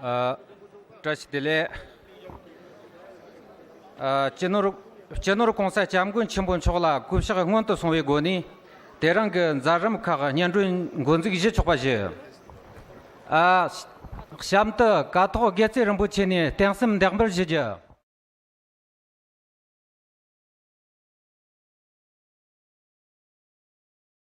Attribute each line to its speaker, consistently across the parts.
Speaker 1: བཀྲ་ཤིས་བདེ་ལེགས། སྤྱི་ནོར་སྤྱི་ནོར ྋགོང་ས ྋསྐྱབས་མགོན་ཆེན་པོ་མཆོག་ལ་སྐུ་ཕྱག་སྔོན་དུ་སོང་བའི་སྒོ་ནས་དེ་རིང་གི་མཛད་རིམ་ཁག་སྙན་སྒྲོན་མགོ་འཛུགས་བཞེས་ཆོག་པ་བཞི། གཤམ་དུ་ཀ་ཐོག་དགེ་བརྩེགས་རིན་པོ་ཆེ་ནས་གཏན་སེམས་འདེགས་འབུལ་བཞེས་རྒྱུ།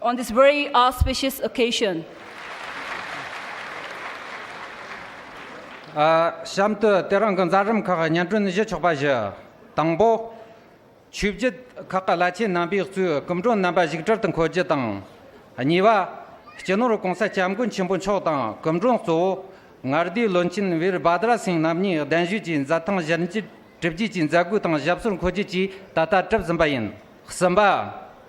Speaker 2: on this very auspicious occasion གཤམ་
Speaker 1: དུ་སྟེ་རང་གི་མཛའ་རིམ་ཁག་སྙན་སྒྲོན་བཞི་ཆོག་པ་བཞི། དང་པོ། ཆོས་བརྒྱུད་ཁག་གི་བླ་ཆེན་རྣམ་པས་གཙོས་སྐུ་མགྲོན་རྣམ་པ་བཞུགས་གྲལ་དུ་འཁོད་རྒྱུ་དང། གཉིས་པ། སྤྱི་ནོར་གོང་ས་སྐྱབས་མགོན་ཆེན་པོ་མཆོག་དང་སྐུ་མགྲོན་གཙོ་བོ་ངར་སྡེའི་བློན་ཆེན་བིར་བྷ་དྲ་སིང་རྣམ་གཉིས་གདན་ཞུས་ཀྱིས་མཛད་ཐང་བཞིར་འཇིབ་བརྒྱུད་ཀྱི་མཛད་སྒོའི་སྟེང་ཞབས་སོར་འཁོད་རྒྱུ་བཅས་ད་ལྟ་གྲུབ་ཟིན་པ་ཡིན། གསུམ་པ།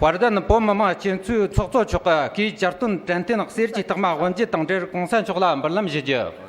Speaker 1: བར་དུ་ནི་བོད་མི་མང་སྤྱི་འཐུས་ཚོགས་གཙོ་མཆོག་གིས་བསྐྱར་བསྟུན་དྲན་རྟེན་གསེར་གྱི་རྟགས་མ་དབོན་འབྱེད་དང་འབྲེལ་གོང་ས་མཆོག་ལ་འབུལ་ལམ་བཞེས་རྒྱུ།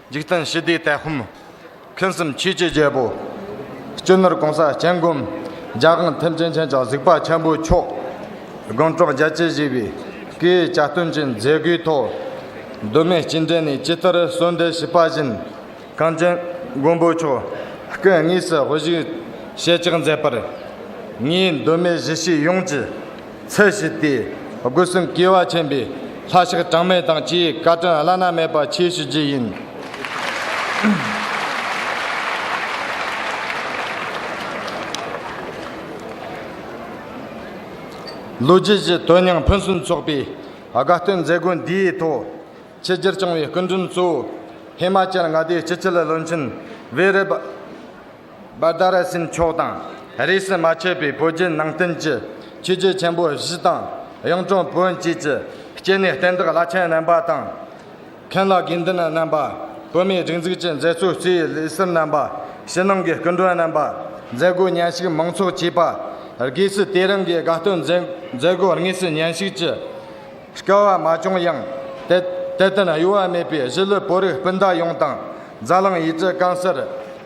Speaker 3: འཇིག་རྟེན་ཞི་བདེའི་དད་ཧཱུྃ། ཕུན་སུམ་ཆོས་ཀྱི་རྒྱལ་པོ། གཅོད་ནོར་གང་ཟག་སྤྱན་བསྒོམ། རྒྱ་གང་ཐེམ་སྤྱན་ཆེན་ཆགས་གཟིགས་དཔའ་ཆེན་པོའི་མཆོག། དགོངས་གྲོགས་རྒྱལ་བྱེད་བཞི་པའི། སྐུའི་བྱ་སྟོན་གྱི་མཛད་སྒོའི་ཐོག། གདོད་མའི་སྤྱི་འགྲེ་ནས་སྤྱི་ལྟར་གསོལ་འདེབས་བྱེད་པ་བཞིན། གངས་ཅན་མགོན་པོའི་མཆོག། སྐུ་དངོས་སུ་དབུ་བཞུགས་ཞལ་གཅིག་མཛད་པར། ངེད་གདོད་མའི་གཞི་ཤེས་ཡོངས་ཀྱི། ཚད་བཞི་སྟེ། སྒོ་གསུམ་སྐལ་བ་ཆེན་པོས་ལྷ་ཞག་གྲངས་མེད་དང་བཅས་བཀའ་དྲིན་བླ་ན་མེད་པ་ཆེ་ཞུ་རྒྱུ་ཡིན། ལོ་རྒྱུས་ཀྱི་དོན་སྙིང་ཕུན་སུམ་ཚོགས་པའི་དགའ་སྟོན་མཛད་སྒོ་འདིའི་ཐོག་ཆེས་སྤྱིར་བྱུང་བའི་སྐུ་མགྲོན་གཙོ་བོ། ཧི་མ་ཅལ་མངའ་སྡེའི་སྤྱི་ཁྱབ་བློན་ཆེན་བྷེ་རེབ། སྦ་ལྡ་ར་སེམས་མཆོག་དང་རིས་སུ་མ་ཆད་པའི་བོད་བརྒྱུད་ནང་བསྟན་གྱི་ཆོས་རྒྱལ་ཆེན་པོ་བཞི་དང་གཡུང་དྲུང་བོན་བཅས་ཀྱི་སྐྱེས་ནས་བསྟན་བདག་བླ་ཆེན་རྣམ་པ་དང། མཁན་བླ་དགེ་འདུན་རྣམ་པ། བོད་མིའི་སྒྲིག་འཛུགས་ཀྱི་མཛད་གཙོ་གཙོས་ལས་སེར་རྣམ་པ། ཕྱི་ནང་གི་སྐུ་མགྲོན་རྣམ་པ། མཛད་སྒོའི་ཉན་ཞིག་མང་ཚོགས་བཅས་པ། སྒོས་སུ་དེ་རིང་གི་དགའ་སྟོན་མཛད་སྒོ་དངོས་སུ་ཉན་ཞིག་ཅི་དཀའ་བ་མ་བྱུང་ཡང། དད་ལྡན་གཡོ་བ་མེད་པའི་གཞིས་ལུས་བོད་རིགས་སྤུན་ཟླ་ཡོངས་དང་རྫ་གླིང་ཡུལ་གྲུ་སྐམ་སར་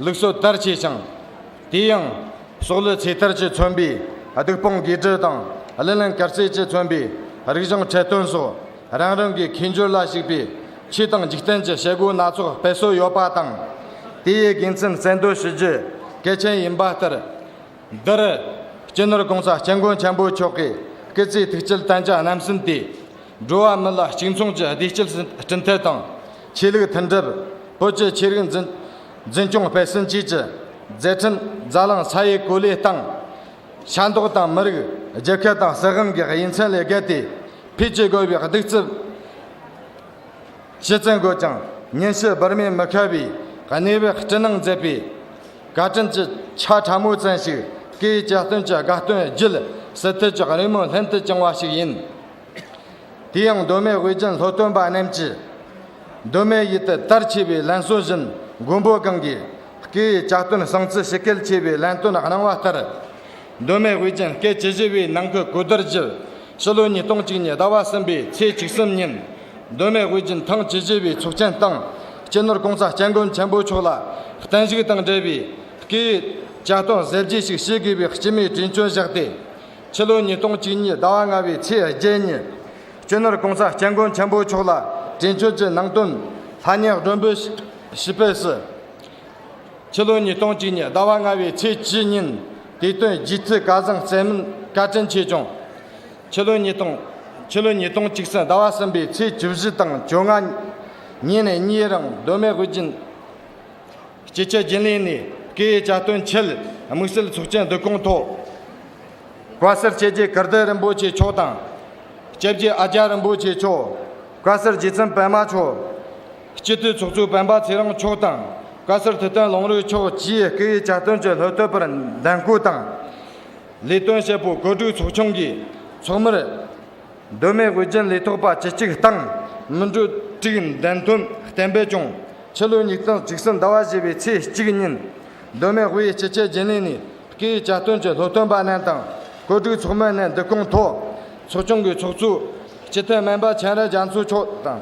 Speaker 3: ལུགས་སྲོལ་ལྟར་བྱས་ཀྱང། དེ་ཡང། སྲོག་ལུས་ཚེ་ཐར་གྱིས་མཚོན་པའི་སྡིག་སྤང་དགེ་སྦྲུལ་དང། གླེན་གླེན་གར་རྩེད་ཀྱིས་མཚོན་པའི་རིག་གཞུང་འཕྲལ་བསྟུན་སོགས་རང་རང་གི་ཁེ་འབྱོར་ལ་གཞིགས་པའི་ཕྱི་དང་འཇིག་རྟེན་གྱི་བྱེད་སྒོ་སྣ་ཚོགས་སྤེལ་སྲོལ་ཡོད་པ་དང། དེའི་དགེ་མཚན་གསལ་འདོན་ཞུ་རྒྱུ་གལ་ཆེན་ཡིན་པ་ལྟར། འདིར། སྤྱི་ནོར་གོང་ས་སྐྱབས་མགོན་ཆེན་པོ་མཆོག་གིས་སྐུ་ཚེའི་ཐུགས་བསྐྱེད་བསྟན་བྱ་རྣམ་གསུམ་སྟེ། འགྲོ་བ་མི་ལ་གཅིག་མཚུངས་ཀྱི་བདེ་སྐྱིད་སྤྲིན་ཐད་དང། ཆོས་ལུགས་མཐུན་སྒྲིལ། བོད་ཀྱི་ཆོས་རིག་འཛིན་སྐྱོང་སྤེལ་གསུམ་བཅས་ཀྱི་མཛད་འཕྲིན་རྫ་གླང་ས་ཡའི་གོ་ལའི་སྟེང། ཤ་མདོག་དང་མི་རིགས་རྒྱལ་ཁབ་དང་སྲིད་དབང་གི་དབྱེ་མཚན་ལས་བརྒལ་ཏེ། འཕེལ་རྒྱས་དགོས་པའི་གདུག་རྩུབ་ཤུལ་བཙན་དགོས་ཀྱང་ཉིན་ཞིག་འབུར་མའི་མི་ཁ་བའི་གནས་བབ་སྐྲུན་གནང་མཛད་པའི་བཀའ་དྲིན་གྱི་ཆ་ཕྲ་མོ་ཙམ་ཞིག་གིས་རྒྱལ་སྟོན་གྱི་དགའ་སྟོན་བརྒྱུད་སྲིད་མཐུད་ཀྱི་རི་མོ་ལྷུན་དུ་བྱུང་བ་ཞིག་ཡིན། དེ་ཡང་གདོད་མའི་དབུས་རྒྱན་ལྷོ་སྟོན་པ་རྣམས་ཀྱིས། གདོད་མའི་ཡུལ་དུ་དར་ཆེ་བའི་ལན་གསུངས་བཞིན་མགོན་པོ་གང་གིས་སྐེ་ཡི་ལྕགས་སྟོན་གསང་ཚིག་ཞི་གེལ་ཆེ་བའི་ལན་སྟོན་གནང་བ་ལྟར། གདོད་མའི་དབུས་རྒྱན་སྐད་ཇི་བཞི་བའི་ནང་གི་གོས་དར་བཞི། ཕྱི་ལོ་ཉིས་སྟོང་གཅིག་ཉིས་ཟླ་བ་གསུམ་པའི་ཚེས་བཅུ་གསུམ་ཉིན། གདོད་མའི་དབུས་རྒྱན་ཐང་ཇི་བཞི་བའི་ཚོགས་ཆེན་སྟེང། སྤྱི་ནོར་ཀོང་ཚ་སྐྱབས་མགོན་ཆེན་པོ་མཆོག་ལ་བརྟན་བཞུགས་དང་འབྲེལ་བའི། སྐེ་ཡི་ལྕགས་སྟོན་གསལ་བརྗེ་ཞིག་བྱེད་དགོས་པའི་སྤྱི་མོས་དྲིན་བཅོལ་བཞག་སྟེ། ཕྱི་ལོ་ཉིས་སྟོང་གཅིག་ཉིན་ཟླ་བ་ལྔ་བའི་ཚེས་བརྒྱད་ཉིན། སྤྱི་ནོར ྋགོང་ས ྋསྐྱབས་མགོན་ཆེན་པོ་མཆོག་ལ་དྲན་སྐུལ་གྱི་ནང་དོན་ལྷ་བསྙེན་སྒྲོན་འབུལ་ཞུས་པའི་སྲིད། ཕྱི་ལོ་ཉིས་སྟོང་གཅིག་ཉིན་ཟླ་བ་ལྔ་བའི་ཚེས་བཅུ་ཉིན། དེ་དོན་རྗེ་བཙུན་བཀའ་བཟང་སྩལ་མིན་བཀའ་དྲིན་ཆེ་བྱུང། ཕྱི་ལོ་ཉིས་སྟོང། ཕྱི་ལོ་ཉིས་སྟོང་གཅིག་ཟིན་ཟླ་བ་གསུམ་པའི་ཚེས་བཅུ་བཞི་དང་བཅོ་ལྔ། ཉིན་ནས་གཉིས་རིང་སྡོད་མེད་དབུ་རྒྱན། སྤྱི་ཁྱབ་རྒྱུན་ལས་ནས་སྐད་ཡིག་བསྐྱར་དོན་ཆེད་དམིགས་བསལ་ཚོགས་ཆེན་བསྡུ་བསྐོང་ཐོག་བཀའ་ཟུར་བཅས་རྗེ་གར་བདག་རིན་པོ་ཆེ་མཆོག་དང། བཅས་རྗེ་ཨ་ཀྱཱ་རིན་པོ་ཆེ་མཆོག། བཀའ་ཟུར་རྗེ་བཙུན་པདྨ་མཆོག། སྤྱི་འཐུས་ཚོགས་གཙོ་སྤེན་པ་ཚེ་རིང་མཆོག་དང་བཀའ་ཟུར་ཐུབ་བསྟན་ལུང་རིགས་མཆོག་བཅས་སྐད་ཡིག་བསྐྱར་དོན་གྱི་ལྷུ་བསྟོད་པར་འདེམས་བསྐོ་དང། ལས་དོན་བྱེད་པོ་བཀོད་སྒྲིག་ཚོགས་ཆུང་གིས་ཚོགས་མིར། གདོད་མའི་དབུ་རྒྱན་ལས་ཐོགས་པ་ཇི་གཅིག་བཏང། མི་འགྲོ་དྲུག་འདན་དོན་བསྟན་པས་ཀྱང། ཕྱི་ལོ་ཉིས་སྟོང་བཅུ་གསུམ་ཟླ་བ་བཞི་པའི་ཚེས་གཅིག་ཉིན། གདོད་མའི་དབུ་ཡི་སྤྱི་ཁྱད་རྒྱན་ལས་ནི། བཀའི་བཅའ་སྟོན་གྱི་སློབ་སྟོན་པ་རྣམས་དང། བཀོད་སྒྲིག་ཚོགས་མི་རྣམས་འདུ་ཁང་ཐོག། ཚོགས་ཆུང་གི་ཚོགས་གཙོ། སྤྱི་འཐུས་སྨན་པ་མཁྱེན་རབ་རྒྱ་མཚོ་མཆོག་དང།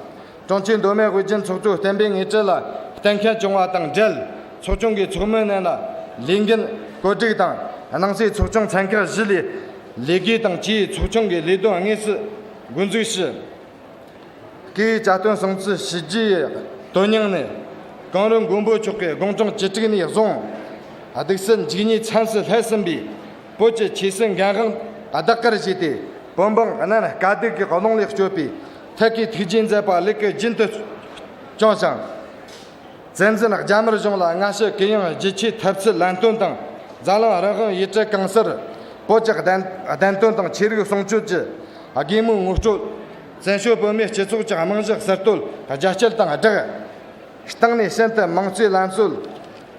Speaker 3: ཀྲུང་ཕྱིའི་མདོ་སྨད་ཝེ་ཅུན་ཚོགས་ཆུང་བརྟན་པོའི་ངེས་ཅན་ལ་གཏན་འཁེལ་བྱུང་བ་དང་འབྲེལ་ཚོགས་ཆུང་གི་ཚོགས་མི་རྣམས་ལ་ལས་འགན་བཀོད་སྒྲིག་དང་ནང་སྲིད་ཚོགས་ཆུང་ཚན་ཁག་བཞི་ལས་ལས་ཀའི་དང་ཕྱིའི་ཚོགས་ཆུང་གི་ལས་དོན་དངོས་སུ་འགོ་འཛུགས་ཞུས། ཀྱི་བཅའ་སྟོན་སྲུང་བརྩི་བྱས་རྗེས་དོན་སྙིང་ནི། གངས་རི་མགོན་པོ་མཆོག་གི་དགོངས་དོན་བཅུ་དྲུག་ནས་བཟུང། སྡིག་སེལ་འཇིགས་ཉེས་ཚན་སྲིད་ལྷད་ཟིན་པའི་བོད་ཀྱི་ཆོས་སྲིད་འགན་དབང་བདག་གིར་བཞེས་ཏེ་བོད་འབངས་རྣམས་དཀའ་སྡུག་གི་ཀློང་ལས་སྐྱོབ་པའི་ཐད་ཀའི་ཐུགས་རྗེའི་མཛད་པ་ལེགས་སྐུ་རྒྱུན་དུ་སྐྱོང་ཞིང། མཛད་འཛིན་རྒྱ་དམར་གཞུང་ལ་སྔ་ཕྱི་གུ་ཡངས་བརྗིད་ཆེའི་ཐབས་ཚུལ་ལན་སྟོན་དང་རྫ་ལང་རང་དབང་ཡིད་བྱེད་གང་སར་བོད་ཀྱི་བདེན་དོན་དང་ཆོས་རིག་སྲུང་སྐྱོབ་ཀྱི་དགེ་མོས་ངོ་སྤྲོད། བཙན་བྱོལ་བོད་མིའི་སྤྱི་ཚོགས་ཀྱི་རྨང་གཞི་གསར་གཏོད་ལ་རྒྱ་སྐྱེད་དང་སྦྲགས། སྟེང་ནས་ཤིན་ཏུ་མང་གཙོའི་ལམ་སྲོལ་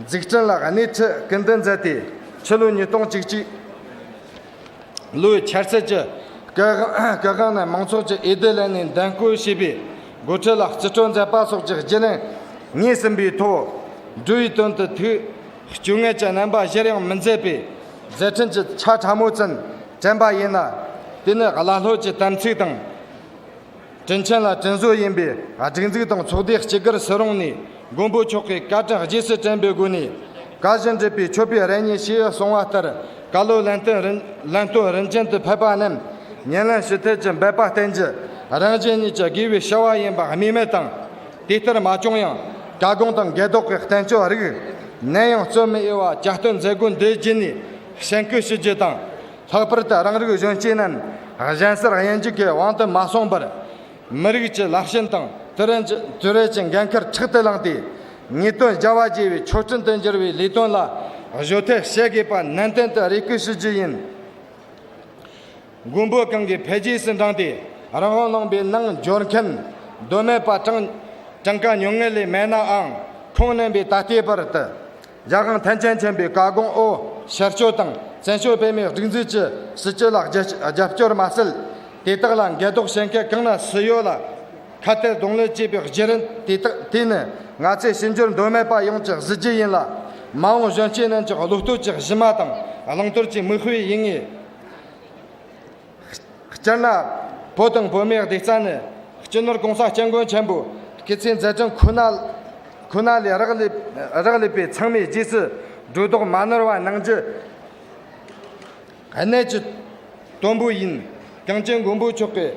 Speaker 3: འཛུགས་སྐྲུན་ལ་སྣེ་ཁྲིད་སྐུལ་འདེད་མཛད་དེ་ཕྱི་ལོ་ཉིས་སྟོང་བཅུ་གཅིག། ལོའི་འཆར་ཚད་ཀྱི་སྐལ་ཁང་ནས་མང་ཚོགས་ཀྱིས་ཨེ་ཏེ་ལན་ནི་འདེམས་བསྐོ་བྱས་པའི་འགོ་ཁྲིད་ལ་རྩིས་སྤྲོད་མཛད་པ་སོགས་ཀྱི་བརྗེ་ལེན་ངེས་ཟིན་པའི་ཐོག་འབྲུ་ཡི་དོན་དུ་དུས་སྐྱོ་ངལ་གྱི་རྣམ་པ་གཞིར་ཡང་མི་མཛད་པའི་མཛད་འཕྲིན་གྱི་ཆ་ཕྲ་མོ་ཙམ་དྲན་པ་ཡིན་ལ། དེ་ནི་ཀླ་ཀློ་གྱི་དམ་ཚིག་དང། དྲིན་ཆེན་ལ་དྲིན་བཟོ་ཡིན་པའི་སྒྲིག་འཛུགས་དང་ཚོགས་སྡེ་སྤྱི་སྒེར་སུ་རུང་ནས་མགོན་པོ་མཆོག་གི་བཀའ་དྲིན་རྗེས་སུ་དྲན་པའི་སྒོ་ནས། བཀའ་བཞིན་སྒྲུབ་པའི་མཆོད་པའི་རེ་སྙེག་ཞེས་གསུང་བ་ལྟར་བཀའ་སློབ་ལན་སྟོན་རིན་ལན་སྟོན་རིན་ཅན་དུ་ཕེབས་པ་རྣམས་ཉེར་ལེན་ཞུ་ཐལ་གྱི་འབད་པ་བསྟེན་རྒྱུ་རང་གཞན་གཉིས་ཀྱི་དགེ་བའི་བྱ་བ་ཡིན་པ་སྨིས་མེད་དང། དེ་ལྟར་མ་བྱུང་ཡང་བཀའ་དགོངས་དང་འགལ་དོགས་ཀྱི་བསྟན་བཅོས་རིགས་གནས་ཡང་བརྩོན་མི་གཡེལ་བ་བསྐྱར་བཏོན་མཛད་སྒོ་འདིའི་རྗེས་ནས་གསན་བསྐུལ་ཞུ་རྒྱུ་དང། ལྷག་པར་དུ་རང་རིགས་གཞོན་སྐྱེས་རྣམས་གཞན་སར་དབྱེན་འབྱེད་ཀྱི་དབང་དུ་མ་སོང་བར། མི་རིགས་ཀྱི་ལག་ཞེན་དང་དུས་རབས་ཀྱི་འགན་ཁུར་ཕྲག་ཏུ་བླངས་ཏེ། ངེས་དོན་རྒྱ་བ་བརྗེ་བའི་ཆོག་ཁྲིམས་དུ་འགྱུར་བའི་ལས་དོན་ལ་གཞོལ་ཐབས་བྱེད་དགོས་པ་ནན་ཏན་དུ་རེ་སྐུལ་ཞུ་རྒྱུ་ཡིན། མགོན་པོ་གང་གིས་འཕེལ་རྒྱས་སུ་འབྲངས་ཏེ་རང་དབང་བླངས་པའི་རྣལ་འབྱོར་མཁན་གདོད་མའི་པ་གྲངས་གྲངས་ཀ་ཉུང་ངུ་ལས་མེད་ནའང་ཁུངས་སྣེ་བའི་ད་ལྟའི་བར་དུ། རྒྱལ་ཁང་ཐན་ཅན་མཁྱེན་པའི་བཀའ་དགོངས་ཨོ་ཤར་ཆོས་དང་བཙན་ཆོས་སྤེལ་མའི་སྒྲིག་འཛུགས་ཀྱི་སྲིད་སྤྱི་ལ་རྒྱབ་སྐྱོར་མ་སྲིད། དེ་དག་ལ་འགལ་དོགས་བྱེད་མཁན་གང་ན་སུ་ཡོད་ལ། ཁ་གཏད་གདོང་ལེན་བྱེད་པའི་བརྒྱུད་རིམ་དེ་དག་དེ་ནི་ང་ཚོས་ཕྱི་འགྱུར་འདོད་མེད་པ་ཡོངས་ཀྱི་གཟི་བརྗིད་ཡིན་ལ། མ་འོངས་གཞོན་སྐྱེས་རྣམས་ཀྱི་བློ་ལྟོས་ཀྱི་གཞི་མ་དང་བླང་དོར་གྱི་མིག་དཔེ་ཡིན་ངེས། སྤྱིར་ན། བོད་དང་བོད་མིའི་སྡིག་རྩ་ནི། སྤྱི་ནོར་གོང་ས་སྐྱབས་མགོན་ཆེན་པོ། སྐེ་ཚེ་མཛད་ཕྲིན་ཁོ་ན་ཁོ་ན་ལས་རག་ལས་རག་ལས་པའི་ཚང་མས་རྗེས་སུ་སྒྲོ་བཏགས་མ་ནོར་བ་གནང་རྒྱུ། གནད་ཀྱི་དོན་པོ་ཡིན། གངས་ཅན་མགོན་པོ་མཆོག་གི།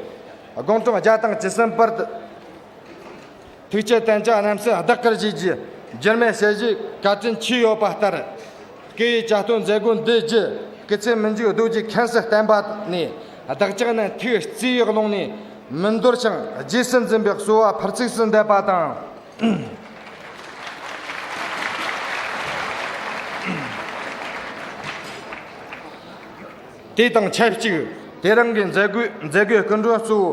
Speaker 3: དགོངས་དྲང་རྒྱ་དང་ཇི་སྲིད་བར། ཐུགས་བསྐྱེད་བརྟན་བྱ་རྣམ་སྲས་བདག་གིར་བཞེས། འགྱུར་མེད་ཞལ་བཞེས་བཀའ་དྲིན་ཆེ་ཡོད་པ་ལྟར། སྐུ་ཡི་བཅའ་སྟོན་མཛད་སྒོ་འདི་བརྒྱུད་སྐུ་ཚེ་མི་འཇུག་གདུགས་ཀྱི་ཁེངས་སུ་བསྟན་པ་ནི། བདག་ཅག་ནི་ཐུགས་བརྩེ་བའི་ཀློང་ནས་མི་འདོར་ཞིང་རྗེས་སུ་འཛིན་པའི་གསོལ་བ་ཕར་ཚིགས་སུ་འདེབས་པ་དང། དེ་དང་ཆབས་གཅིག་དེ་རིང་གི་མཛད་སྒོའི་མཛད་སྒོའི་སྐུ་མགྲོན་གཙོ་བོ་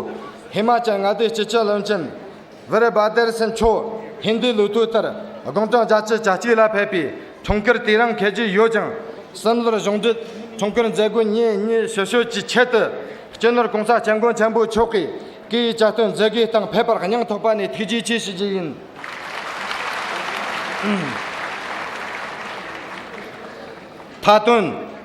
Speaker 3: ཧི་མ་ཅལ་མངའ་སྡེའི་སྤྱི་ཁྱབ་བློན་ཆེན་བིར་བྷ་དེར་སན་མཆོག་ཧིན་རྡུའི་ལོ་དུས་ལྟར་དགུང་གྲངས་བརྒྱ་ཆའི་གྱ་གཅིག་ལ་ཕེབས་པའི་འཁྲུངས་སྐར་དེ་རིང་འཁེལ་གྱི་ཡོད་ཅིང། སིམ་ལར་གཞུང་འབྲེལ་འཁྲུངས་སྐར་མཛད་སྒོ་ཉིན་གཉིས་ཞུ་ཞོལ་གྱི་ཆེད་དུ་སྤྱི་ནོར་གོང་ས་སྐྱབས་མགོན་ཆེན་པོ་མཆོག་གིས་སྐུའི་བཅའ་སྟོན་མཛད་སྒོའི་སྟེང་ཕེབས་པར་སྙིང་ཐོག་པ་ནས་ཐུགས་རྗེ་ཆེ་ཞུ་རྒྱུ་ཡིན། མཐའ་དོན།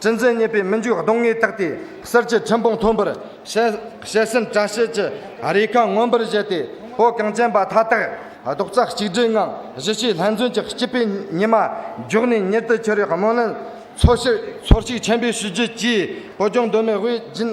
Speaker 3: སྤྱི་མཚན་སྙན་པའི་སྨིན་བྱུས་གདོང་ལྔས་བཏེགས་ཏེ། གསེར་གྱི་ཁྲི་འབུམ་མཐོན་པོར་བྱས། སེམས་བཀྲ་ཤིས་ཀྱི་རིས་རྐང་མངོན་པར་བཞད་དེ། བོད་གངས་ཅན་པ་མཐའ་དག་རྡོག་རྩ་གཅིག་སྒྲིལ་ངང་གཞིས་བྱེས་ལྷན་བརྩོན་གྱི་སྐྱིད་པའི་ཉི་མ་མགྱོགས་ནས་མྱུར་དུ་འཁྱེར་བའི་སྨོན་ལམ། ཚོར་ཤུགས་ཆེན་པོས་ཞུ་རྒྱུ་གཅེས་བོད་ལྗོངས་གདོད་མའི་དབུས་རྒྱུན།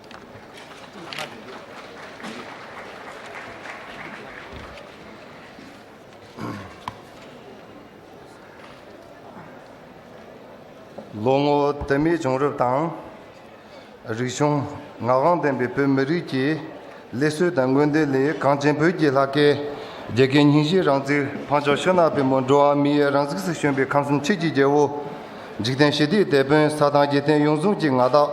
Speaker 4: ལོ་ངོ་དུ་མའི་བྱུང་རབས་དང། རིག་གཞུང་ངག་དབང་ལྡན་པའི་བོད་མི་རིགས་ཀྱི་ལི་སྲོལ་དང་དངོས་བདེན་ལས་གངས་ཅན་བོད་ཀྱི་ལྷ་སྐལ། རྒྱལ་ཁའི་སྙིང་བཞིན་རང་ཚིག་འཕགས་མཆོག་ཤོ་ནག་པའི་མོ་འགྲོ་བ་མི་ཡི་རང་གཟུགས་སུ་བྱོན་པའི་ཁམས་གསུམ་ཆོས་ཀྱི་རྒྱལ་བོ། འཇིག་རྟེན་ཞི་བདེའི་དེད་དཔོན་ས་དང་རྒྱལ་བསྟན་ཡོངས་བཟུང་གི་མངའ་བདག།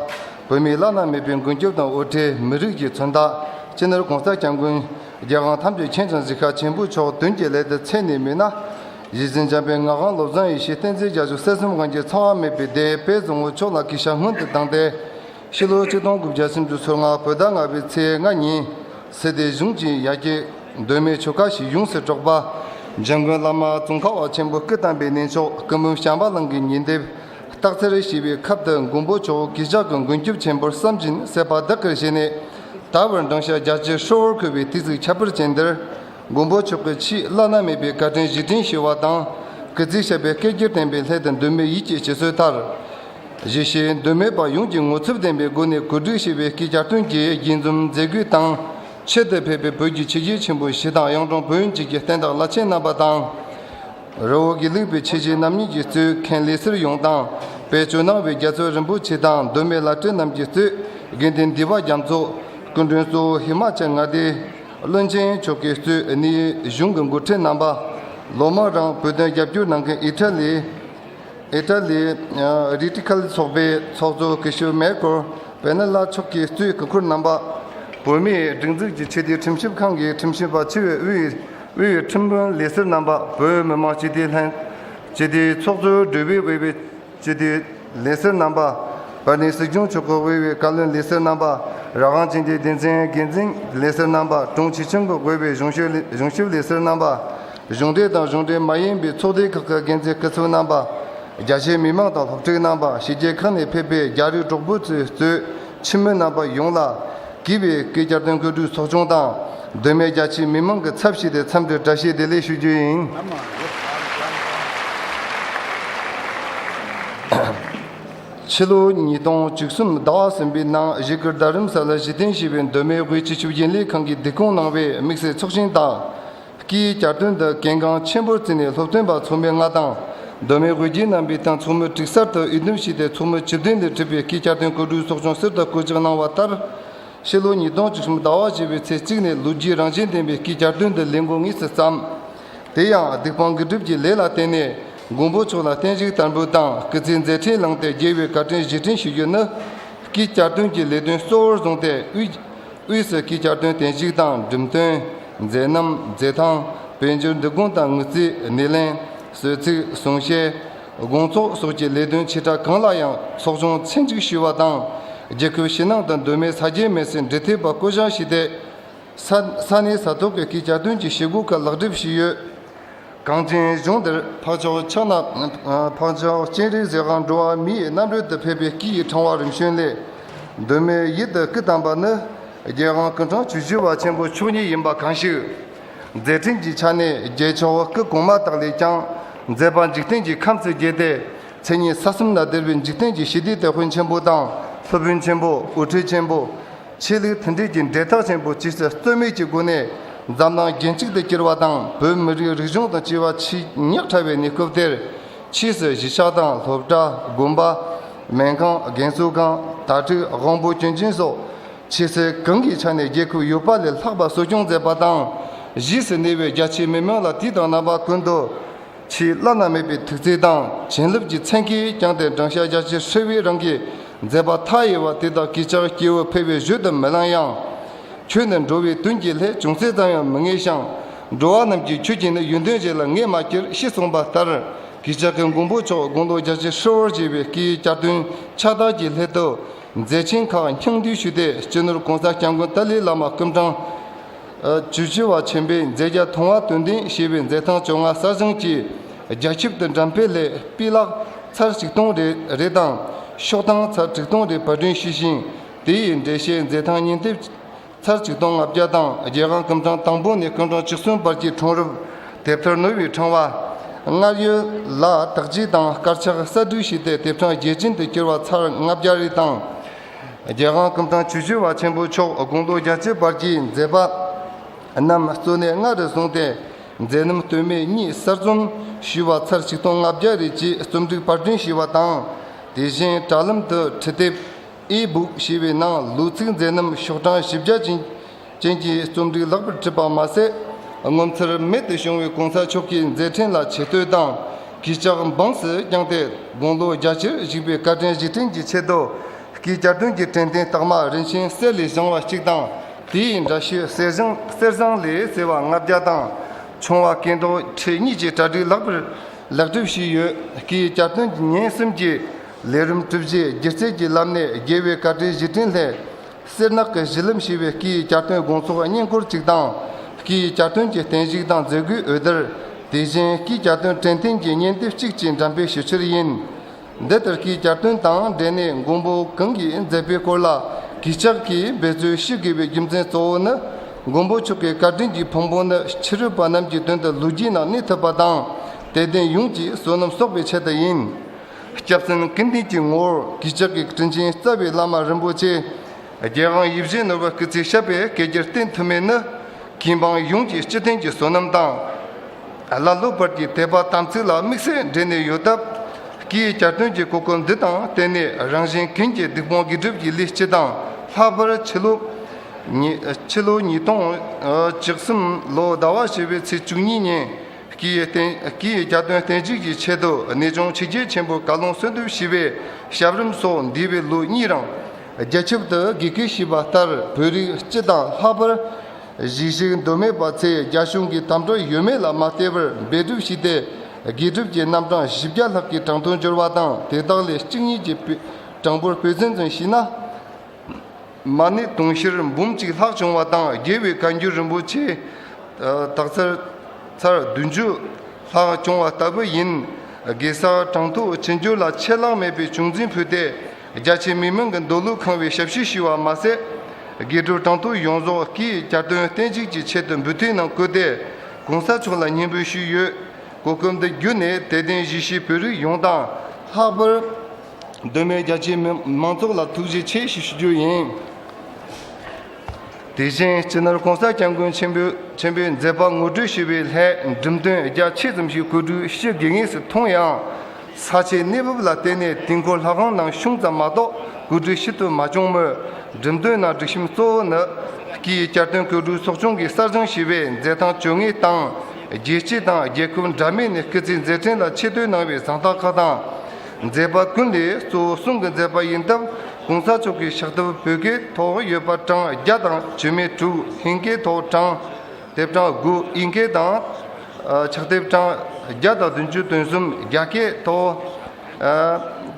Speaker 4: བོད་མིའི་བླ་ན་མེད་པའི་མགོན་སྐྱབས་དང་དབུ་ཁྲིད་མི་རིགས་ཀྱི་མཚོན་རྟགས། སྤྱི་ནོར་གོང་ས་སྐྱབས་མགོན། རྒྱལ་དབང་ཐམས་ཅད་མཁྱེན་དང་གཟིགས་ཤ་ཆེན་པོ་མཆོག་དོན་གྱི་ལས་འདི་ཚད་ནས་མིན་ན། གཞི་འཛིན་འཇམ་པའི་ངག་དབང་བློ་བཟང་ཡེ་ཤེས་བསྟན་འཛིན་རྒྱ་མཚོ་གསེར་གསུམ་གངས་ཅན་ཚང་བ་མེད་པའི་སྡེ་དཔལ་བཟང་བོ་མཆོག་ལ་སྐུ་ཞབས་སྔོན་དུ་བཏང་སྟེ། ཕྱི་ལོ་ཆིག་སྟོང་དགུ་བརྒྱ་སུམ་ཅུ་ཚོུད་ལྔ་བོད་ཟླ་ལྔ་པའི་ཚེས་ལྔ་ཉིན། གཟི་ལྡེ་གཞུང་གཅིག་ཡ་གྱལ། གདོད་མའི་ཆོ་ག་ཞིག་ཡོངས་སུ་དཀྲོགས་པ། འཇམ་མགོན་བླ་མ་ཙོང་ཁ་བ་ཆེན་པོ་སྐུ་བལྟམས་པའི་གནས་མཆོག་སྐུ་འབུམ་ཞང་བ་གླང་གི་ཉི་ཟླའི། སྟག་འཚེར་ཞེས་པའི་ཁབ་དང་མགོན་པོ་ཇོ་བོ་གེ་ཇག་གི་མགོན་སྐྱོབ་ཆེན་པོར་བསམ་བཞིན་བསད་པ་བདག་གིར་བཞེས་ནས། ད་བར་འབྲང་ཞག་བརྒྱ་ཆའི་ཧྲིལ་བོར་འཁོད་པའི་ཏི་ཙིག་ཁྱབ་འཕེར་ཅན་འདིར། མགོན་པོ་མཆོག་གི་ཆེས་བླ་ན་མེད་པའི་བཀའ་དྲིན་གཞི་དྲིན་ཞུ་བ་དང། གི་ཚིག་ཞབས་པད་བསྐལ་བརྒྱར་བརྟན་པའི་སླད་དུ་འདོད་མོས་ཡིད་ཆེས་བྱེད་སྲོལ་དར། བཞི། ཞེས་འདོད་མོས་པ་ཡོངས་ཀྱིས་ངོ་ཚབ་ལྡན་པའི་སྒོ་ནས་གོ་སྒྲིག་བྱས་པའི་སྐྱིད་ཆར་ཐོན་སྐྱེད་དགྱེས་འཛོམས་མཛད་སྒོའི་སྟེང། ཆེད་དུ་ཕེབས་པའི་བོད་ཀྱི་ཆེ་གེ་ཆེན་པོ་བཞི་དང་གཡང་དྲུང་བོན་གཅིག་གི་བསྟན་བདག་བླ་ཆེན་རྣམ་པ་དང། རི་བོ་དགེ་ལུགས་པའི་ཆེ་གེ་རྣམ་གཉིས་ཀྱིས་གཙོས་མཁན་ལས་སིར་ཡོངས་དང། དཔལ་ཇོ་ནང་བའི་རྒྱ་མཚོ་རིན་པོ་ཆེ་དང་གདོད་མའི་བླ་སྤྲུལ་རྣམས་ཀྱིས་གཙོས་དགེ་ལྡན་འདུས་པ་རྒྱ་མཚོ། སྐུ་མགྲོན་གཙོ་བོ་ཧི་མ་ཅལ་མངའ་སྡེའི། བློན་ཆེན་མཆོག་གིས་གཙོས་ཨེ་ནིའི་གཞུང་གི་མགོ་ཁྲིད་རྣམ་པ་ལོ་མང་རིང་བོད་དོན་རྒྱབ་སྐྱོར་གནང་མཁན་ཨི་ཏྲ་ལི། Italy། རིཏིཀལ་ཚོགས་པའི་ཚོགས་གཙོ་ཀི་ཤོ་མེ་ཀོར་བྷེ་ནེ་ལཱ་མཆོག་གིས་གཙོས་ཀི་ཁུར་རྣམ་པ། བོད་མིའི་སྒྲིག་འཛུགས་ཀྱི་ཆེད་དོན་ཁྲིམས་ཞིབ་ཁང་གི་ཁྲིམས་ཞིབ་པ་ཆེ་བའི་དབུས་ཁྲིམས་དཔོན་ལི་སི་རྣམ་པ། བོད་མི་མང་སྤྱི་བདེའི་ལྷན་སྤྱི་བདེའི་ཚོགས་གཙོའི་སྒྲོས་བུས་དབུས་པའི། སྤྱི་འཐུས། ལི་སིར་རྣམ་པ། བོད་དོན་སྲིད་སྐྱོང་ཆུ་ཁོལ་དབུས་བོད་བཀའ་བློན་ལི་སིར་རྣམ་པ། རང་དབང་སྤྱི་འཐུས་སྡེ་ཚན་འགན་འཛིན་ལི་སིར་རྣམ་པ། དྲུང་ཆེ་ཆེན་པོ་དགོས་པའི་གཞུང་ཞབས་ལི་སིར་རྣམ་པ། གཞུང་འབྲེལ་དང་གཞུང་འབྲེལ་མ་ཡིན་པའི་ཚོགས་སྡེ་ཁག་གི་འགན་འཛིན་སྐུ་ཚབ་རྣམ་པ། རྒྱ་ཆེའི་མི་མང་དང་སློབ་ཕྲུག་རྣམ་པ་ཕྱི་རྒྱལ་ཁག་ནས་ཕེབས་པའི་རྒྱ་རིགས་གྲོགས་པོ་ཚོའི་གཙོས་ཕྱི་མི་རྣམ་པ་ཡོངས་ལ། བགྱིས་པའི་བཀའི་བསྐྱར་དོན་བཀོད་སྒྲིག་ཚོགས་ཆུང་དང་སྡོད་མལ་རྒྱ་ཆེའི་མི་མང་གི་ཚབ་བྱས་ཏེ་འཚམས་འདྲིར་བཀྲ་ཤིས་བདེ་ལེགས་ཞུ་རྒྱུ་ཡིན། ཕྱི་ལོ་ཉིས་སྟོང་བཅུ་གསུམ་ཟླ་བ་གསུམ་པའི་ནང་གཞིས་སྒར་རྡ་རམ་ས་ལར་གཞི་རྟེན་བྱས་པའི་མདོ་སྨད་དབུས་སྤྱི་ཆུ་རྒྱུན་ལས་ཁང་གིས་བསྡུ་སྐོང་གནང་བའི་དམིགས་བསལ་ཚོགས་ཆེན་དང། ཀྱིས་བསྐྱར་སྐྲུན་དུ་གལ་འགངས་ཆེན་པོར་བརྩིས་ནས་སློབ་ཐོན་པ་ཚོགས་མི་ལྔ་དང། གདོད་མའི་དབུས་རྒྱུན་རྣམ་པའི་སྟེང་ཚོགས་མི་དྲུག་གསར་དུ་དབྱེ་འདུམ་བྱས་ཏེ་ཚོགས་མི་བཅུ་བདུན་ལས་གྲུབ་པའི་ཀྱིས་བསྐྱར་སྐྲུན་སྐུ་དྲུང་ཚོགས་ཆུང་གསེར་རྟ་སྐུ་གཅིག་གནང་བ་ལྟར། ཕྱི་ལོ་ཉིས་སྟོང་བཅུ་གསུམ་ཟླ་བ་བཞི་བའི་ཚེས་གཅིག་ནས་ལོ་རྒྱུས་རང་བཞིན་ལྡན་པའི་ཀྱིས་བསྐྱར་སྐྲུན་དུ་ལས་འགོ་དངོས་སུ་བརྩམས། དེ་ཡང་སྡིག་སྤང་དགེ་སྒྲུབ་ཀྱི་ལས་ལ་བརྟེན་ནས་མགོན་པོ་མཆོག་ལ་བརྟན་བཞུགས་དར་འབུལ་དང་སྐུ་ཚེའི་མཛད་འཕྲིན་བླངས་ཏེ་རྒྱལ་བའི་བཀའ་དྲིན་གཞི་དྲིན་ཞུ་རྒྱུ་ནི། ཀྱིས་བསྐྱར་སྐྲུན་གྱི་ལས་དོན་གཙོ་བོར་བཟུང་སྟེ་དབུས། དབུས་སུ་སྐྱིད་བསྐྱར་དོན་རྟེན་གཞིགས་དང་འགྲིམ་སྟོན། མཛད་རྣམ། མཛད་ཐང། དཔལ་འབྱོར་འབྲི་གུང་དང་དངུལ་རྩའི་སྣེ་ལེན། གསོལ་ཚིགས། གསུང་བཤད། དགོང་ཚོགས་སོགས་ཀྱི་ལས་དོན་ཆེ་ཕྲ་གང་ལ་ཡང་ཚོགས་ཆུང་ཚན་གཅིག་ཞུས་བ་དང། རྒྱལ་ཁབ་ཕྱི་ནང་དང་གདོད་མའི་ས་སྐྱའི་མི་སེར་འབྲེལ་ཐེབས་པ་བསྐོ་བཞག་ཞུས་ཏེ། ས་གནས་ས་ཐོག་གི་སྐྱིད་བསྐྱར་དོན་གྱི་བྱེད་སྒོ་ཁག་ལག་འགྲིབ་ཞུས་ཡོད། གངས་ཅན་གཞུང་འདིར་འཕགས་མཆོག་ཕྱག་ན་འཕགས་མཆོག་སྤྱན་རས་གཟིགས་ཁང་འགྲོ་བ་མིའི་རྣམ་རོལ་དུ་ཕེབས་པའི་སྐུ་ཡི་འཕྲེང་བ་རིམ་བྱོན་ལས། གདོད་མའི་ཡིད་དུ་སྐུ་དམ་པ་ནི། རྒྱལ་དབང་སྐུ་འཕྲང་ཆུ་བཞི་བ་ཆེན་པོ་མཆོག་ཉིད་ཡིན་པ་གང་ཞིག། མཛད་ཕྲིན་གྱི་ཆ་ནས་རྒྱལ་མཆོག་སྐུ་གོང་མ་དག་ལས་ཀྱང་མཛད་པ་འཇིག་རྟེན་གྱི་ཁམས་སུ་རྒྱས་ཏེ་མཚན་ཉིད་ས་གསུམ་ན་བརྡལ་བའི་འཇིག་རྟེན་གྱི་ཞི་བདེའི་དེད་དཔོན་ཆེན་པོ་དང་སློབ་དཔོན་ཆེན་པོ་དབུ་ཁྲིད་ཆེན་པོ། ཆེད་ལས་མཐུན་སྒྲིལ་གྱི་འབྲེལ་ཐག་ཆེན་པོ་ཇི་སྲིད་རྩོད་མེད་ཀྱི་སྒོ་ནས་འཛམ་གླིང་རྒྱལ་གཅིག་ཏུ་གྱུར་བ་དང་བོད་མི་རིགས་རིག་གཞུང་དང་སྤྱི་བ་ཆིག་ཉིག་ཕྲ་བའི་གནས་སྐབས་དེར། ཕྱིས་སུ་གཞིས་ཆགས་དང་སློབ་གྲྭ། དགོན་པ། སྨན་ཁང། རྒན་གསོ་ཁང། དྭ་ཕྲུག་དབང་བོ་སྐྱོན་ཅན་སོགས། ཕྱི་གསལ་གང་གི་ཆ་ནས་རྒྱལ་ཁབ་ཡོད་པ་ལས་ལྷག་པ་གསོ་སྐྱོང་མཛད་པ་དང། གཞིས་སུ་གནས་པའི་རྒྱ་ཆེའི་མི་མང་ལ་དུས་དང་རྣམ་པ་ཀུན་ཏུ། ཆེས་བླ་ན་མེད་པའི་ཐུགས་བརྩེ་དང་བྱིན་རླབས་ཀྱི་མཚན་གྱིས་བསྐྱངས་ཏེ་བགྲང་བྱ་རྒྱ་ཆེར་ཧྲིལ་བོའི་རང་གི་མཛད་པ་མཐའ་ཡས་པ་དེ་དག་གིས་ཀྱང་སྐྱེ་བོ་ཕལ་བའི་བཞོད་དུ་མི་ལང་ཡང། ཁྱོད་ནི་འགྲོ་བའི་དོན་གྱི་ལྷས་བྱུང་ཚེ་ཙམ་ཡང་མི་ངེས་ཤིང། འགྲོ་བ་རྣམས་ཀྱིས་ཁྱོད་ཀྱིས་ནི་ཡོན་ཏན་ཅན་ལ་ངེས་མ་ཁྱེར་ཞེས་གསུངས་པ་ལྟར་གིས་ཅག་གི་མགོན་པོ་མཆོག་དགོངས་རྟོགས་རྒྱ་ཆེར་ཧྲིལ་བོར་བྱས་པའི་སྐྱེས་ཡུལ་བསྐྱར་དོན་ཕྱག་དར་གྱི་སླད་དུ། མཛད་ཆེན་ཁག་སྙིང་བསྡུས་ཞུས་ཏེ་སྤྱི་ནོར་གོང་ས་སྐྱབས་མགོན་ཏཱ་ལའི་བླ་མ་སྐུ་འཕྲང། ཇུ་ཆེ་བ་ཆེན་པོས་མཛེས་རྒྱ་མཐོང་བ་དོན་ལྡན་ཞེས་པའི་མཛེས་ཐང་བཅོ་ལྔ་གསར་བཞེངས་ཀྱིས་རྒྱ་ཁྱབ་ཏུ་འགྲེམས་སྤེལ་སླད་སྤུས་ལག་ཚར་ཆིག་སྟོང་རེ་རེ་དང་ཤོག་ཐང་ཚར་དྲུག་སྟོང་རེ་བར་བསྐྲུན་ཞུས་ཤིང་དེ་ཡི་འགྲེལ་བཤད་མཛེས་ཐང་སྙན་དེབ་ཚར་ཆིག་སྟོང་ལྔ་བརྒྱ་དང་བརྒྱད་ཁང་སྐུ་འཕྲང་དང་པོ་ནས་སྐུ་འཕྲང་བཅུ་གསུམ་བར་གྱི་འཕྲང་རུབ་དེབ་ཐེར་ནོར་བུའི་འཕྲང་བ། སྔར་ཡོད་ལ་དག་བྱེད་དང་དཀར་ཆག་གསར་སྐྲུན་བྱས་ཏེ་དེབ་འཕྲང་རྒྱལ་ཆེན་དུ་གྱུར་བ་ཚར་ལྔ་བརྒྱ་རེ་དང། རྒྱལ་ཁང་གི་དང་ཆོས་ཞུ་བ་ཆེན་པོ་མཆོག་དགོངས་རྡོ་རྒྱ་ཆེ་བར་གྱིས་མཛད་པ་རྣམས་གཙོས་གནས་ལྔ་རུ་བཟུང་སྟེ་མཛད་རྣམ་སྟོད་སྨད་གཉིས་གསར་རྩོམ་ཞུས་བ་ཚར་ཆིག་སྟོང་ལྔ་བརྒྱ་རེ་བཅས་རྩོམ་སྒྲིག་པར་སྐྲུན་ཞུས་བ་དང། དེ་བཞིན་དྲ་ལམ་དུ་འཕྲི་དེབ E-Book ཞེས་པའི་ནང་ལུགས་ཚིག་མཛད་རྣམ་ཤོག་གྲངས་བཞི་བརྒྱ་ཅན། བཅས་ཀྱི་རྩོམ་སྒྲིག་ལྷག་པར་བྲིས་པ་མ་ཟད། ངོ་མཚར་རྨད་དུ་བྱུང་བའི་གོང་ས་མཆོག་གི་མཛད་འཕྲིན་ལ་ཆེ་བསྟོད་དང་གྱི་ལྕགས་འབངས་སུ་བསྐྱངས་ཏེ་དགུང་ལོ་རྒྱ་ཆེར་བཞུགས་པའི་བཀའ་དྲིན་གཞི་ཁྲིམས་ཀྱི་ཆེད་དུ། ཀྱི་བསྐྱར་སྐྲུན་གྱི་དྲན་རྟེན་རྟགས་མ་རིན་ཆེན་གསེར་ལས་བྱུང་བ་གཅིག་དང། དེའི་འདྲ་བཤུས་གསེར་ཟངས་ལས་གསལ་བ་ལྔ་བརྒྱ་དང། ཆུང་བ་སྐལ་རྡོར་ཁྲི་གཉིས་ཀྱི་གྲ་སྒྲིག་ལྷག་པར་ལེགས་གྲུབ་ཞུས་ཡོད། ཀྱི་བསྐྱར་སྐྲུན་ཉིན་གསུམ་གྱི་ལས་རིམ་གྲུབ་རྗེས་སྒྱུ་རྩལ་གྱི་བསླབ་གནས་དགེ་བའི་བཀའ་དྲིན་གཞི་ཁྲིམས་ལྷས། སེར་ནག་གི་གཞི་ལམ་ཞེས་པའི་སྐད་ཡིག་བསྐྱར་དོན་དགོངས་ཚོགས་བརྙན་འཁོར་གཅིག་དང། སྐད་ཡིག་བསྐྱར་དོན་གྱི་བརྟན་བཞུགས་དང་མཛད་སྒོའི་འོད་སྡེར། དེ་བཞིན་སྐད་བསྐྱར་དོན་དྲན་ཐེངས་ཀྱི་བརྙན་དེབ་གཅིག་བཅས་འགྲམ་དཔེ་ཞུ་ཕྱིར་ཡིན། འདི་ལྟར་སྐད་བསྐྱར་དོན་དང་འབྲེལ་ནས་མགོན་པོ་གང་གིས་མཛད་པའི་སྐོར་ལ་གུས་ཕྱག་གིས་འབད་རྩོལ་ཞུ་དགོས་པའི་རྒྱུ་མཚན་གཙོ་བོ་ནི། མགོན་པོ་མཆོག་གི་བཀའ་དྲིན་གྱི་ཕུང་པོ་ནི་ཕྱི་རོལ་པ་རྣམས་ཀྱི་དོན་དུ་ལུས་དཀྱིལ་ན་གནས་ཐུབ་པ་དང། དད་ལྡན་ཡོངས་ཀྱིས་བསོད་ནམས་གསོག་པའི་ཆེད་དུ་ཡིན། སྐྱབས་སེམས་སྐུ་མདུན་གྱི་ངོ་བོར་གུས་ཕྱག་གིས་དྲིན་ཅན་རྩ་བའི་བླ་མ་རིན་པོ་ཆེ། རྒྱལ་དབང་ཡིད་བཞིན་ནོར་བུ་སྐུ་ཚེའི་ཞབས་པད་བསྐལ་བརྒྱར་བརྟན་ཐུབ་མིན་ནི། ཁྱིམ་འབངས་ཡོངས་ཀྱི་སྤྱི་དོན་གྱི་བསོད་ནམས་དང། བླ་སློབ་བར་གྱི་དད་པ་དམ་ཚིག་ལ་དམིགས་བསལ་འབྲེལ་ནས་ཡོད་སྟབས། སྐུའི་གྱ་སྟོན་གྱི་གོ་སྐབས་འདི་དང་བརྟེན་ནས་རང་གཞན་ཀུན་གྱི་སྡིག་སྤོང་དགེ་སྒྲུབ་ཀྱི་ལས་སྤྱི་དང་ལྷག་པར་ཕྱི་ལོ། ཕྱི་ལོ་ཉིས་སྟོང་བཅུ་གསུམ་ལོ་ཟླ་བ་བྱེ་བའི་ཚེས་བཅུ་གཉིས་ཉིན། ཀྱི་རྒྱ་དོན་བསྟན་བཅོས་ཀྱི་ཆེད་དུ་གནས་ཆུང་ཕྱི་རྒྱལ་ཆེན་པོ་བཀའ་ལུང་གསོལ་འདེབས་ཞུས་པའི་ཞབས་རིམ་སོགས་འདས་པའི་ལོ་གཉིས་རིང། རྒྱ་ཁྱབ་ཏུ་དགེ་བསྐོས་ཞུས་པ་ལྟར་བོད་རིགས་སྤྱི་དང་ལྷག་པར། གཞིས་བཞུགས་མདོ་སྨད་པ་ཚས་རྒྱ་གཞུང་གི་དམ་དྲག་ཡོད་མེད་ལ་མ་བལྟས་པར་འབད་སྒྲུབ་ཞུས་ཏེ་དགེ་སྒྲུབ་ཀྱི་རྣམ་གྲངས་བཞི་བརྒྱ་ལྷག་གི་གྲངས་ཐོ་འབྱོར་བ་དང་དེ་དག་ལས་གཅིག་གཉིས་ཀྱི་གྲངས་འབོར་བོད་ཚན་ཚུན་བཤུས་ན། མ་ནི་དུང་ཕྱུར་འབུམ་གཅིག་ལྷག་བྱུང་བ་དང་རྒྱལ་བའི་བཀའ་འགྱུར་རིན་པོ་ཆེ་དག་ཚར་བདུན་ཅུ་ལྷག་བྱུང་བ་ལྟ་བུ་ཡིན། གེ་སར་གྲངས་ཐུག་ཕྱི་འགྱུར་ལ་ཆད་ལྷག་མེད་པའི་བྱུང་འཛིན་ཕུལ་ཏེ་རྒྱ་ཆེ་མི་མང་གི་མདོ་ལུགས་ཁང་བའི་ཞབས་ཕྱི་ཞུས་བ་མ་ཟད། དགེ་སྒྲུབ་གྲངས་ཐུག་ཡོངས་རྫོགས་ཀྱི་བསྐྱར་སྟོན་བརྟན་བྱེད་ཀྱི་ཆེད་དུ་འབུལ་ཐེངས་ནང་བསྐུལ་ཏེ་གོང་ས་མཆོག་ལ་སྙིང་འབུལ་ཞུས་ཡོད། གོ་སྐབས་འདི་བརྒྱུད་ནས་དད་ལྡན་གཞིས་བྱེས་བོད་རིགས་ཡོངས་དང། ལྷག་པར། གདོད་མའི་རྒྱ་ཆེའི་མང་ཚོགས་ལ་ཐུགས་རྗེ་ཆེ་ཞུ་རྒྱུ་ཡིན། དེ་བཞིན་སྤྱི་ནོར ྋགོང་ས ྋསྐྱབས་མགོན་ཆེན་པོའི་མཛད་པ་ངོ་སྤྲོད་ཞུ་བའི་ལྷའི་འགྲེམས་སྟོན་རྒྱ་ཆེ་ཙམ་ཞིག་གོས་དྲུག་ཕྱི་དགེ་བསྔལ་སུ་མཐོང་ཡང། ས་ཆའི་གནས་བབ་ལ་བལྟས་ནས་དུས་འཁོར་ལྷ་ཁང་ནང་གཞུང་ཙམ་མ་གཏོགས་གོས་དྲུག་ཕྱི་དུ་མ་བྱུང་མོད། འགྲེམས་སྟོན་ནང་སྒྲིག་ཁྲིམས་གཙོ་བོ་ནི། ཀྱི་བསྐྱར་སྟོན་གོས་དྲུག་ཚོགས་ཆུང་གི་གསར་བྱུང་ཞི་བའི་མཛད་ཐང་བཅོ་ལྔའི་སྟེང། རྒྱལ་སྤྱི་དང་རྒྱལ་ཁབ་འདྲ་མིན་ནས་སྐུ་ཚེའི་མཛད་འཕྲིན་ལ་ཆེ་བསྟོད་གནང་བའི་བཟང་རྟགས་ཁག་དང། མཛད་པ་ཀུན་ལས་གཙོ་བོ་གསུང་གི་མཛད་པ་ཡིན་སྟབས་གོང་ས་མཆོག་གིས་ཞག་ལྟབུ་བོད་སྐད་ཐོག་ཡོད་པ་གྲངས་བརྒྱ་དང་བཅུ་མེད་དྲུག་ཧིན་སྐད་ཐོག་གྲངས་དེབ་གྲངས་དགུ་དབྱིན་སྐད་དང། ཕྱག་དེབ་གྲངས་བརྒྱ་དང་བདུན་ཅུ་དོན་གསུམ་རྒྱ་སྐད་ཐོག།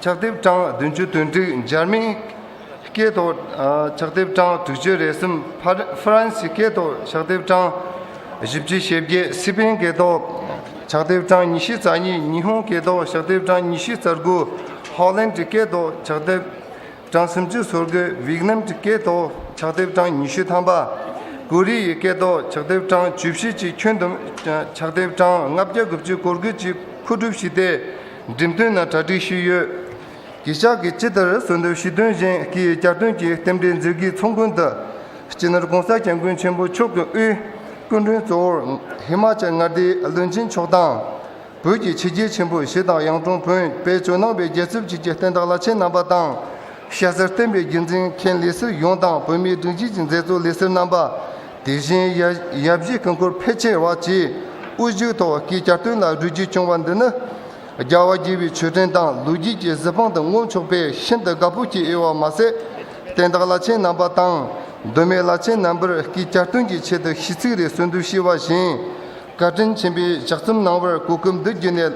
Speaker 4: ཕྱག་དེབ་གྲངས་བདུན་ཅུ་དོན་དྲུག་འཇར་མན། སྐད་ཐོག་ཕྱག་དེབ་གྲངས་དྲུག་ཅུ་རེ་གསུམ། ཧྥ་རན་སིའི་སྐད་ཐོག་ཕྱག་དེབ་གྲངས་བཞི་བཅུ་ཞེ་བརྒྱད། སི་པན་སྐད་ཐོག་ཕྱག་དེབ་གྲངས་ཉི་ཤུ་རྩ་གཉིས། ཉི་ཧོང་སྐད་ཐོག་ཕྱག་དེབ་གྲངས་ཉི་ཤུ་རྩ་དགུ། ཧོ་ལན་གྱི་སྐད་ཐོག་ཕྱག་དེབ་གྲངས་སུམ་ཅུ་སོ་དགུ། ཝིག་ནམ་གྱི་སྐད་ཐོག་ཕྱག་དེབ་གྲངས་ཉི་ཤུ་ཐམ་པ། ཀོ་རི་ཡའི་སྐད་ཐོག་ཕྱག་དེབ་གྲངས་བཅུ་བཞི་གཅིག་ཁྱོན་བསྡོམས་ཕྱག་དེབ་གྲངས་ལྔ་བརྒྱ་དགུ་བཅུ་སྐོར་དགུ་གཅིག་མཁོ་སྒྲུབ་བཞི་སྟེ་འགྲེམས་སྟོན་ན་གྲ་སྒྲིག་ཞུས་ཡོད། གྱི་ཤག་གིས་ཅི་ལྟར་གསོལ་འདེབས་ཞུས་དོན་བཞིན་གྱི་བསྐྱར་སྐྲུན་གྱི་རྟེན་འབྲེལ་མཛོད་དགེའི་ཚོགས་མགོན་དུ། སྤྱི་ནོར ྋགོང་ས ྋསྐྱབས་མགོན་ཆེན་པོ་མཆོག་གི་དབུས་སྐུ་མགྲོན་གཙོ་བོར་ཧི་མ་ཅལ་མངའ་སྡེའི་བློན་ཆེན་མཆོག་དང། བོད་ཀྱི་ཕྱི་རྒྱལ་ཆེན་པོ་བཞི་དང་ཡང་ཀྲོང་བོན་དཔེ་ཇོ་ནང་པའི་རྒྱལ་ཚབ་ཅིག་གི་བསྟན་བདག་བླ་ཆེན་རྣམ་པ་དང། ཤ་ཟར་བསྟན་པའི་རྒྱུན་འཛིན་མཁན་ལས་སིལ་ཡོངས་དང་བོད་མིའི་སྒྲིག་འཇིགས་ཀྱི་མཛད་གཙོ་ལས་སིལ་རྣམ་པ། དེ་བཞིན་ཡབ་གཞིས་ཀུན་འཁོར་ཕལ་ཆེ་བ་བཅས་དབུ་བཞུགས་ཐོག་གི་བསྐྱར་སྐྲུན་ལ་རུས་རྒྱུད་བསྐྱོང་བ་འདི་ནི། རྒྱལ་བ་དགྱེས་པའི་ཆོས་ཕྲན་དང་ལུས་དཀྱིལ་གྱི་གཟི་དཔང་དུ་བསྔོ་ཆོག་པས་ཤིན་ཏུ་དགའ་པོ་སྐྱེ་ཨེ་བ་མ་ཟད། བསྟན་བདག་བླ་ཆེན་རྣམ་པ་དང། གདོད་མའི་བླ་ཆེན་རྣམ་པར་ཀྱིས་བསྐྱར་སྟོན་གྱི་ཆེད་དུ་ཤིས་ཚིག་རེ་གསོལ་འདུལ་ཤེས་བ་བཞིན། བཀའ་དྲིན་ཆེན་པོས་ཕྱག་རྩོམ་གནང་བར་གུས་བཀུར་འདུད་བགྱི་ནས།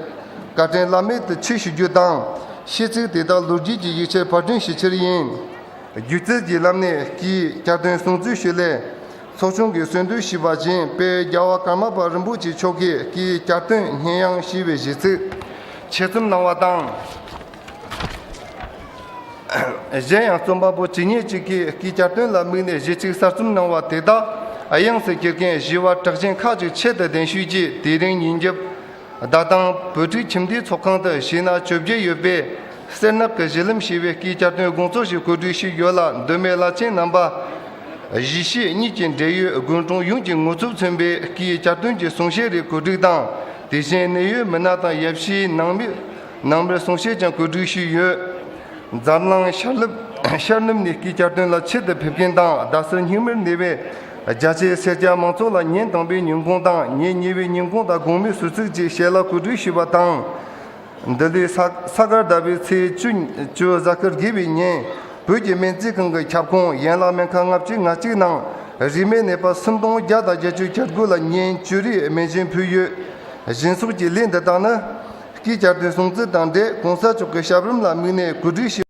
Speaker 4: བཀའ་དྲིན་བླ་མེད་དུ་མཆིས་ཞུ་རྒྱུ་དང། ཤིས་ཚིག་དེ་དག་ལུས་དཀྱིལ་གྱི་ཡིག་ཆའི་ཕར་སྐྲུན་ཞི་ཕྱིར་ཡིན། སྒྱུ་རྩལ་གྱི་བསླབ་གནས་ཀྱིས་བསྐྱར་སྟོན་གསུང་ཚུལ་ཞུས་སླད། ཚོགས་ཆུང་གི་གསོལ་འདེབས་ཞུས་པ་བཞིན་དཔལ་རྒྱལ་བ་ཀརྨ་པ་རིན་པོ་ཆེ་མཆོག་གིས་ཀྱི་གྱ་སྟོན་སྙན་དབྱངས་ཞེས་པའི་གཞས་ཚིག་ཆེད་རྩོམ་གནང་བ་དང། གཞན་ཡང་རྩོམ་པ་པོ་ཇི་སྙེད་ཅིག་གིས་ཀྱི་གྱ་སྟོན་ལ་དམིགས་ནས་གཞས་ཚིག་གསར་རྩོམ་གནང་བ་དེ་དག་དབྱངས་སུ་གྱེར་མཁན་བཞི་བ་གྲགས་ཆེན་ཁག་ཅིག་ཆེད་དུ་གདན་ཞུས་རྗེས་དེ་རིང་ཉིན་རྒྱབ་བདག་དང་བོད་ཕྲུག་ཁྱིམ་སྡེའི་ཚོགས་ཁང་དུ་བྱས་ན་བཅོ་བརྒྱད་ཡོད་པས། སེར་ནག་གི་གཞི་ལམ་ཞེས་པའི་སྐད་བསྐྱར་དོན་དགོངས་གཙོ་ཞིག་གོ་སྒྲིག་ཞིག་ཡོད་ལ་མདོ་སྨད་བླ་ཆེན་རྣམ་པ། གཞིས་བྱེས་གཉིས་ཀྱི་འབྲེལ་ཡོད་དགོན་གྲོང་ཡོངས་ཀྱི་ངོ་ཚུབ་མཚོན་པའི་སྐད་བསྐྱར་དོན་གྱི་གསུང་བཤད་རེ་གོ་སྒྲིག་དང་དེ་བཞིན་གནད་ཡོད་མི་སྣ་དང་ཡབ་གཞིས་ནང་མི། ནང་པའི་གསུང་བཤད་ཀྱང་གོ་སྒྲིག་ཞུས་ཡོད། འཛམ་གླིང་ཤར་ལྷོ་ཤར་ནུབ་ནས་སྐྱིད་གྱར་དོན་ལ་ཆེད་དུ་ཕེབས་མཁན་དང་རྡ་སར་སྙིང་མོར་གནས་པའི་རྒྱ་ཆེའི་སེར་སྐྱ་མང་ཚོགས་ལ་ཉིན་དང་པོའི་ཉིན་གུང་དང་ཉིན་གཉིས་པའི་ཉིན་གུང་དང་དགོང་མོའི་ཟུར་ཚིགས་ཀྱི་ཞལ་ལག་གོ་སྒྲིག་ཞུས་པ་དང། འདི་ལོའི་ས་སྐར་ཟླ་བའི་ཚེས་བཅུ་བཅུ་གཟའ་སྐར་དགེ་བའི་ཉིན་བོད་ཀྱི་སྨན་རྩིས་ཁང་གི་ཁྱབ་ཁོངས་ཡན་ལག་སྨན་ཁང་ལྔ་བཅུའི་ང་གཅིག་ནང་རིས་མེད་ནས་པ་སུམ་སྟོང་བརྒྱ་དང་བརྒྱད་ཅུ་གྱ་དགུ་ལ་ཉིན་བཅུ་རེའི་སྨན་སྦྱིན་ཕུལ་ཡོད། བཞིན་སོགས་ཀྱི་ལས་འདི་དག་ནི། སྐྱིད་གྱར་དུས་སྲུང་བརྩི་དང་འབྲེལ་གོང་ས་མཆོག་གི་ཞབས་རིམ་ལ་དམིགས་ནས་གོ་སྒྲིག་བྱས།